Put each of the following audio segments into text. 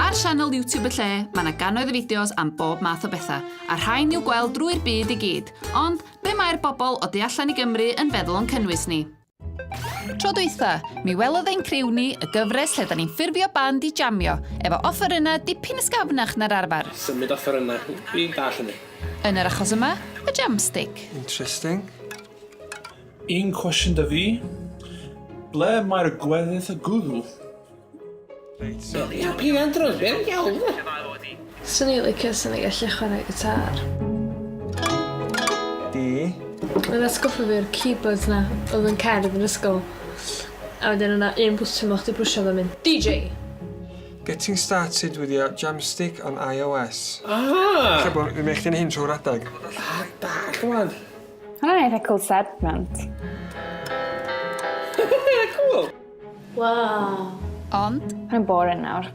Ar sianel YouTube y lle, mae yna gannoedd o fideos am bob math o bethau, a rhain i'w gweld drwy'r byd i gyd. Ond, be mae'r bobl o du allan i Gymru yn feddwl o'n cynnwys ni? Tro dweitha, mi welodd ein criw ni y gyfres lle da ni'n ffurfio band i jamio, efo offerynnau dipyn ysgafnach na'r arfer. Symud offerynnau, fi'n dall hynny. Yn yr achos yma, y jamstick. Interesting. Un cwestiwn 'da fi, ble mae'r gweddill o gwddw? Reit so... Wel ia peidio â drwg ia? Iawn de? Swn i'n licio swn i'n gallu chwarae gitâr. Di? Mae'n atgoffa fi o'r keyboards 'na oedd yn cerdd yn ysgol. A wedyn o' 'na un bwtwm o' chdi pwsio fo mynd DJ! Getting started with your Jamstik on iOS. Ah! Lle bo' fi'n neu' chdi neu' hyn trw'r adag. Adag rwan. Hwnna'n eitha cool segment. cool! Wow. Ond... Mae'n boring nawr.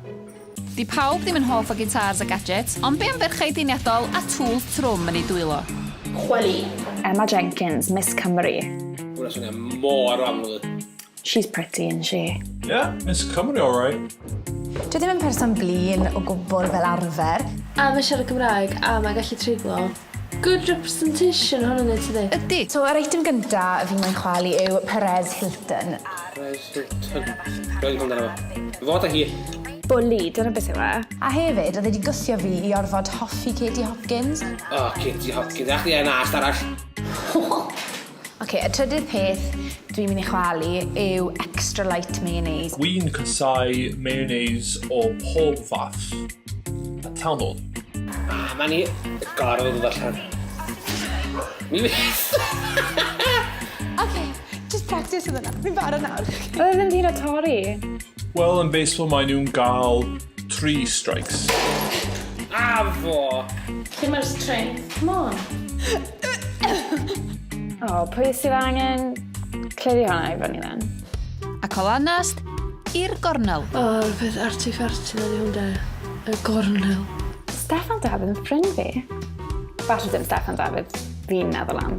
Di pawb ddim yn hoff o gitars a gadgets, ond be am ferchau diniadol a tŵl thrwm yn ei dwylo? Chweli. Emma Jenkins, Miss Cymru. Hwna swnio mor amlwg. She's pretty, isn't she? Yeah, Miss Cymru, all right. Dwi ddim yn person blin o gwbl fel arfer. A mae siarad Cymraeg, a mae gallu treiglo. Good representation hwn yn ei tydi? Ydy. So, yr eitem gynta fi mae'n chwalu yw Perez Hilton. Perez Hilton. Rwy'n hwnna efo. Fod a hi. Bwli, dyna beth yw e. A hefyd, oedd wedi gwthio fi i orfod hoffi Katie Hopkins. O, oh, Katie Hopkins. Ach, ie, na, arall. Oce, y trydydd peth dwi'n mynd i chwalu yw extra light mayonnaise. Dwi'n casau mayonnaise o pob fath. A tanol. A mae ni gorfod yn ddarllen. Mi fyth! Oce, just practice yn yna. Fi'n barod nawr. Oedd e ddim hyd at torri. Wel, yn baseball maen nhw'n gael three strikes. A fo! Lle mae'r strength? Come on. O, oh, pwy sydd angen cleiri hwnna i fyny then? Ac o lanast, i'r gornel. O, oh, peth artifarti na di hwn da. Y gornel. Steffan Davids yn ffrind fi. Falle dim Steffan Davids fi'n meddwl am.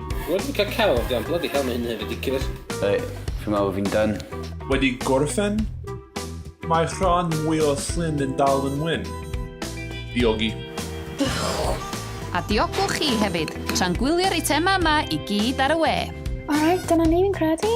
Wedi bwyta celf ydi ond bloody hell mae hyn yn hyn ridiculous. Right, fi'n meddwl fi'n done. Wedi gorffen? Mae rhan mwy o Llyn yn dal yn wyn. Diogi. A diogwch chi hefyd, tra'n gwylio'r eitemau yma i gyd ar y we. Alright, dyna ni fi'n credu.